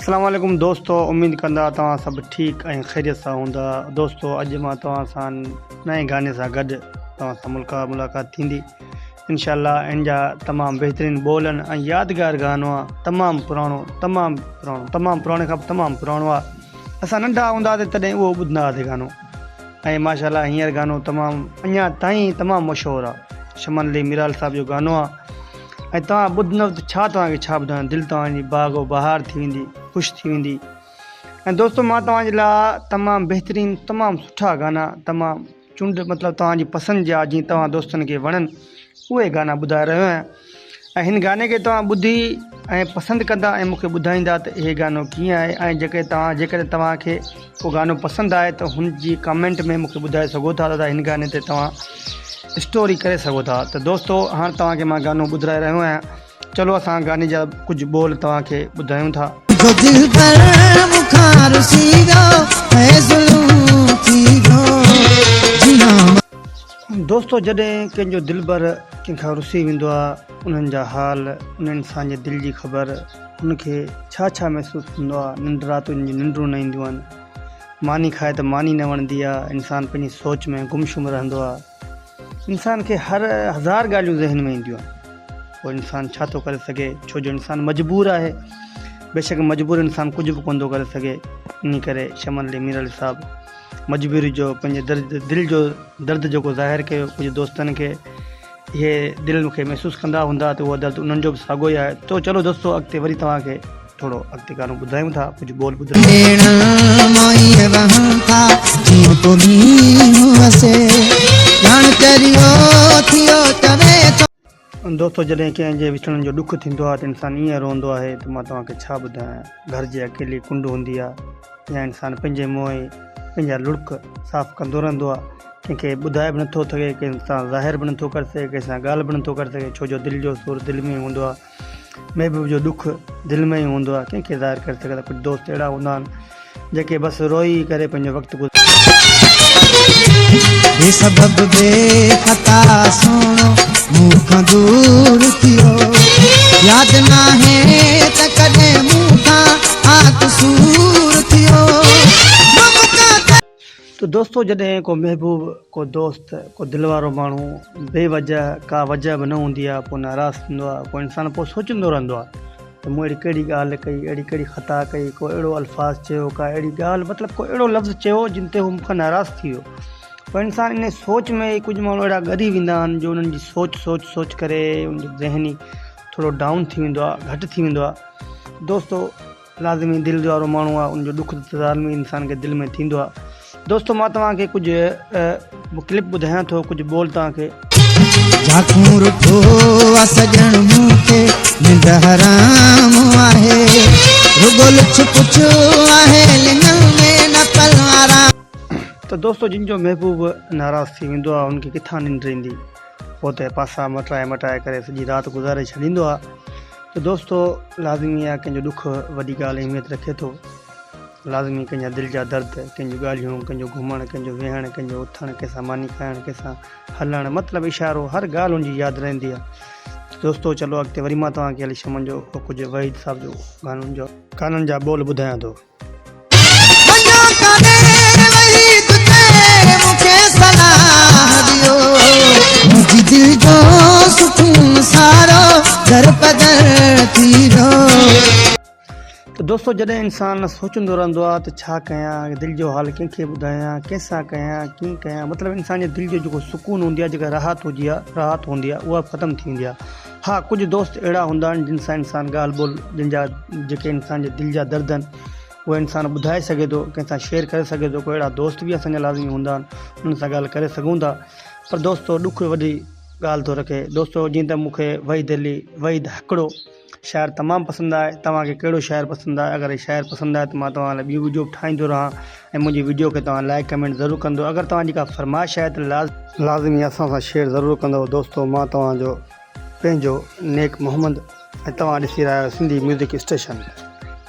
اسلام عليڪم دوستو اميد ڪندا توهان سڀ ٺيڪ ۽ خيريت سان هوندا دوستو اڄ مان توهان سان نئين گاني سان گڏ توهان سان ملڪا ملاقات ٿيندي انشاء الله ان جا تمام بهترين ٻول ۽ يادگار گانو آ تمام پراڻو تمام پراڻو تمام پراڻي کان تمام پراڻو آ اسان ننڍا هوندا ته تڏهن اهو ٻڌندا هئاسي گانو ۽ ماشاء الله هينئر گانو تمام اڃا تائين تمام مشهور آ شمن علي ميرال صاحب جو گانو آ ۽ توهان ٻڌندؤ ته ڇا توهان کي ڇا ٻڌايان دل توهان جي باغ و بهار ٿي ويندي خوش ٿي ويندي ۽ دوستو مان توهان جي لاء تمام بهترين تمام سٺا گانا تمام چونڊ مطلب توهان جي پسند جا جي توهان دوستن کي وڻن اهي گانا ٻڌائي رهيو آهيان ۽ هن گاني کي توهان ٻڌي ۽ پسند ڪندا ۽ مونکي ٻڌائيندا ته اهي گانو ڪيئن آهي ۽ جيڪي توهان جيڪڏهن توهان کي ڪو گانو پسند آهي ته هن جي ڪامينٽ ۾ مونکي ٻڌائي سگهو ٿا ته هن گاني تي توهان اسٽوري ڪري سگهو ٿا ته دوستو هاڻ توهان کي مان گانو ٻڌرائي رهيو آهيان چلو اسان گاني جا ڪجهه ٻول توهان کي ٻڌايون ٿا دوستو جڏهن ڪنهن جو دلبر ڪنهن کان رسي ويندو آهي انهن جا حال ان انسان جي دل جي خبر هن کي ڇا ڇا محسوس ٿيندو آهي ننڊ راتين جي ننڊون نه اينديون آهن ماني کائي ته ماني نه وڻندي آهي انسان پنهنجي سوچ ۾ گم شم رهندو آهي انسان کي هر هزار ڳالهيون ذهن ۾ اينديون آهن پوء انسان ڇا ٿو ڪري سگهي ڇو جو انسان مجبور آهي بيشڪ مجبور انسان ڪجهه به ڪونه ٿو ڪري سگهي انهي ڪري شمن علي ميرالي صاحب مجبوري جو پنهنجي درد دل جو درد جيڪو ظاهر ڪيو ڪجهه دوستن کي اهي دل کي محسوس ڪندا هوندا ته اهو درد انهن جو به ساڳو ئي آهي تو چلو دوستو اڳتي وري توهان کي ٿورو اڳتي گانو ٻڌايون ٿا ڪجهه ٻول ٻڌايون ٿا ڀيڻ مائي وهن ٿا جيئن ڪو مينهن وسي ڄڻ تريو ٿيو چوي ٿو دوستو جڏهن ڪنهن جي وڇڙڻ جو ڏک ٿيندو آهي ته انسان ائين روئندو آهي ته مان توهان کي ڇا ٻڌايان گهر جي اڪيلي ڪنڊ هوندي آهي يا انسان پنهنجي موئي پنهنجا لڙڪ صاف ڪندو رهندو آهي ڪنهن کي ٻڌائي به نٿو سگهي ڪنهن سان ظاهر به نٿو ڪري سگهي ڪنهن سان ڳالهه به نٿو ڪري سگهي ڇو جو دل جو سور دل ۾ ئي هوندو آهي محبوب جو ڏک دل ۾ ئي هوندو آهي ڪنهن کي ظاهر ڪري سگهي ٿا ڪجهه دوست اهڙا هوندا آهن جيڪي بس روئي ڪري پنهنجو وقت تو دوستو جڏهن ڪو محبوب ڪو دوست ڪو دل وارو ماڻهو بي وجه ڪا وجه به نه هوندي آهي پوء ناراض ٿيندو آهي پوء انسان پوء سوچيندو رهندو آهي ته مون اهڙي ڪهڙي ڳالهه ڪئي، اهڙي ڪهڙي خطا ڪئي، ڪو اهڙو الفاظ چيو، ڪا اهڙي ڳالهه مطلب ڪو اهڙو لفظ چيو جن تي هو مون کان ناراض ٿي ويو. پر انسان انهيء سوچ ۾ ڪجهه ماڻهو اهڙا ڳري ويندا آهن جو انهن جي سوچ سوچ سوچ ڪري ان جو ذهن ئي ٿورو ڊائون ٿي ويندو آهي، گهٽ ٿي ويندو آهي. دوستو! لازمي دل جوارو ماڻهو آهي، ان جو ڏک ته لازمي انسان کي دل ۾ ٿيندو آهي. دوستو مان توهان کي ڪجهه ڪلپ ٻڌايان ٿو ڪجهه ٻول توهان کي. جاکون رٺو آ سڄڻ مون کي ننڊ حرام آهي رڳو لڇ پڇ آهي لڱن ۾ نه پل آرام. ته دوستو جن جو محبوب ناراض ٿي ويندو آهي ان کي ڪٿان ننڊ ايندي هو ته پاسا مٽائي مٽائي ڪري سڄي رات گذاري ڇڏيندو آهي ته دوستو لازمي آهي ڪنهن جو ڏک وڏي ڳالهه اهميت رکي ٿو. لازمي ڪنهن جا دل جا درد، ڪنهن جون ڳالهيون، ڪنهن جو گهمڻ، ڪنهن جو ويهڻ، ڪنهن جو اٿڻ، ڪنهن سان ماني کائڻ، ڪنهن سان هلڻ، مطلب اشارو، هر ڳالهه هن جي ياد رهندي آ. ته دوستو چلو اڳتي وري مان توهان کي علي شمن جو ٻه ڪجهه وحيد صاحب جو گانن جو. گانن جا ٻول ٻڌايان ٿو. مڃيو ڪانه وحيد ڪير مون کي صلاح ڏيو. منهنجي دل جو سڪون سارو در پدر ٿي ويو. ته دوستو جڏهن انسان سوچندو رهندو آهي ته ڇا ڪيان دل جو حال ڪنهن کي ٻڌايان ڪنهن سان ڪيان ڪيئن ڪيان مطلب انسان جي دل جو جيڪو سڪون هوندي آهي جيڪا راحت هجي آهي راحت هوندي آهي اها ختم ٿي ويندي آهي ها ڪجهه دوست اهڙا هوندا آهن جن سان انسان ڳالهه ٻولهه جن جا جيڪي انسان جي دل جا درد آهن اهي انسان ٻڌائي سگهي ٿو ڪنهن سان شيئر ڪري سگهي ٿو ڪو اهڙا دوست به اسان جا لازمي هوندا آهن انهن سان ڳالهه ڪري سگهون ٿا پر دوستو ڏک وڏي ڳالهه ٿو رکي دوستو جيئن ته مونکي وحيد علي وحيد هڪڙو شاعر تمام پسند آهي توهان کي ڪهڙو شاعر پسند آهي اگر هي شاعر پسند آهي ته مان توهان لاء ٻيو وڊيو به ٺاهيندو رهان ۽ منهنجي وڊيو کي توهان لائڪ ڪمينٽ ضرور ڪندو اگر توهان جي ڪا فرمائش آهي ته لاز لازمي اسان سان شيئر ضرور ڪندو دوستو مان توهان جو پنهنجو نيڪ محمد ۽ توهان ڏسي رهيا آهيو سنڌي ميوزڪ اسٽيشن.